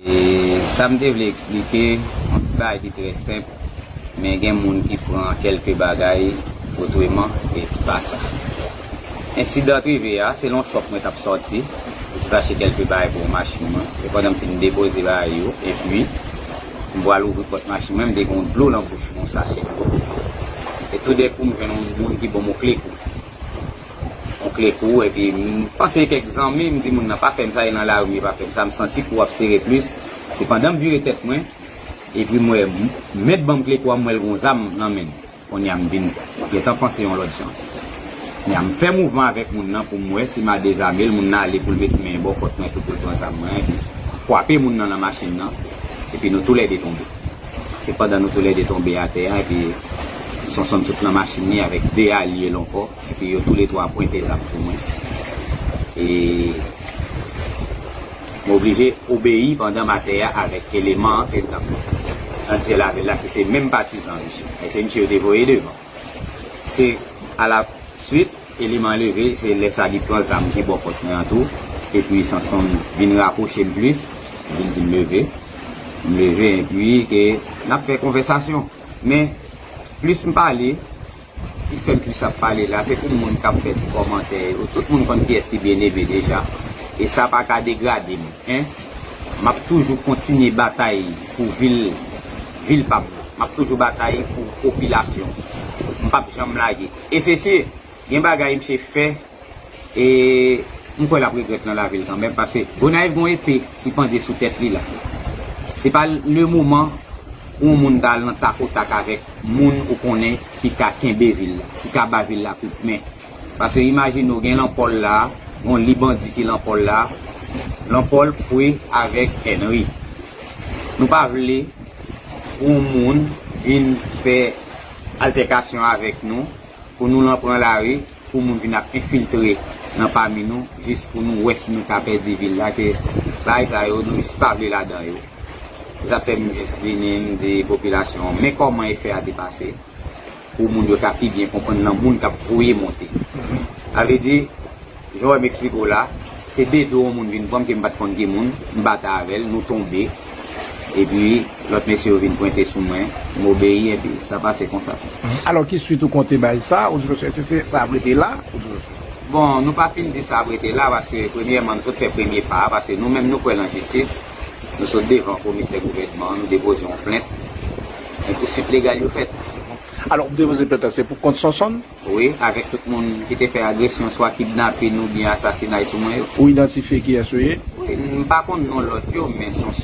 E sa m te vle eksplike, yon ti bagay ki trè senp, men gen moun ki pran kèlke bagay otreman e ki pa sa. Ensidan t rive a, se lan chòp mwen t ap sòti pou sot achte kèlke bagay pou yon machin mwen. Se pandan m fin depoze bagay yo, epi m pral ouvri pòt machin mwen, m te gen yon dlo lan bouch mwen, yon sachè dlo. E toudèkou m jwenn yon moun ki ban m yon kle kou. Ou kle kou w epi m panse kèk zanmi m di moun nan pa fè m sa e nan lari e pa fè m sa m santi kou w ap sere plis se pandan m vire tèt mwen epi m wè men t ban m kle kou a m wè l gon zam nan men l konnya m vin gentan panse yon lòt jan konnya m fè mouvman avèk moun nan pou m wè si ma dezame l moun nan ale pou l met men bò kòt mwen tou pou l pran zam mwen an epi fwape moun nan nan machin nan epi nou tou lè 2 tonbe se pandan nou tou lè 2 tonbe atè a epi Sonsonn sot nan machin li avèk 2 alye l ankò. Epi yo tou le 3 pwente zam sou mwen. E m oblije obeyi pandan matè a avèk eleman an te tann nan dye lavil la ki se menm patizan misye. Men se misye yo te voye devan. Se a la swit eleman an leve se lè sa li pran zam ki bò kòt mwen an tou. Epi Sanson vin rapwoche m plis, li vin di m leve. M leve epi ke n ap fè konvèsasyon. Men plis m pale. Li fèm plis ap pale la se pou moun kap fè ti kòmantè yo tout moun konn kiyès ki byen eme deja e sa paka degradem en map toujou kontinye batay pou vil vil pam nan map toujou batay pou popilasyon mpap janm lage e se si gen bagay msye fè e m kwè lap regrèt nan lavil kanmèm paske Gonayiv gon epe ki pandye sou tèt li la se pa le moman pou yon moun ta al nan tak o tak avèk moun ou konnen ki ka kenbe vil la ki ka ba vil la kout men paske imajine w gen lan pòl la gon li bandi ki lan pòl la lan pòl pwe avèk Henry nou pa vle pou yon moun vin fè altèkasyon avèk nou pou nou lan pran lari. pou moun vin ap enfiltre nan pami nou jis pou nou wè si nou ka pèdi vil la ke bagay sa yo nou jis pa vle ladan yo se sa k fè m jis vini m di popilasyon an men kòman efè a te pase pou moun yo ka pi byen konprann nan moun k ap voye monte sa vle di jan w wè m eksplike w la se de do on moun vin pran m ke m pa t konn ki moun m bata avè l nou tonbe. epi lòt mesye yo vin pwente sou mwen, m obeyi epi sa pase konsa tou. Alò ki swit ou konte bay sa, ou di mesye èske se sa ap rete la, ou di mesye. Bon, nou pa fin di sa ap rete la paske premyèman nou sot fè premye pa a paske nou menm nou kwè lan jistis, nou sot devan komisè gouvènman an nou depoze yon plent, men pouswit legal yo fèt. Alò ou depoze plent lan se pou kont Sonsonn? Wi, avèk tout moun ki te fè agresyon swa kidnapin oubyen asasinay sou mwen yo. Ou idantifye kiyès yo ye? Wi, m pa konn non lòt yo men Sonsonn.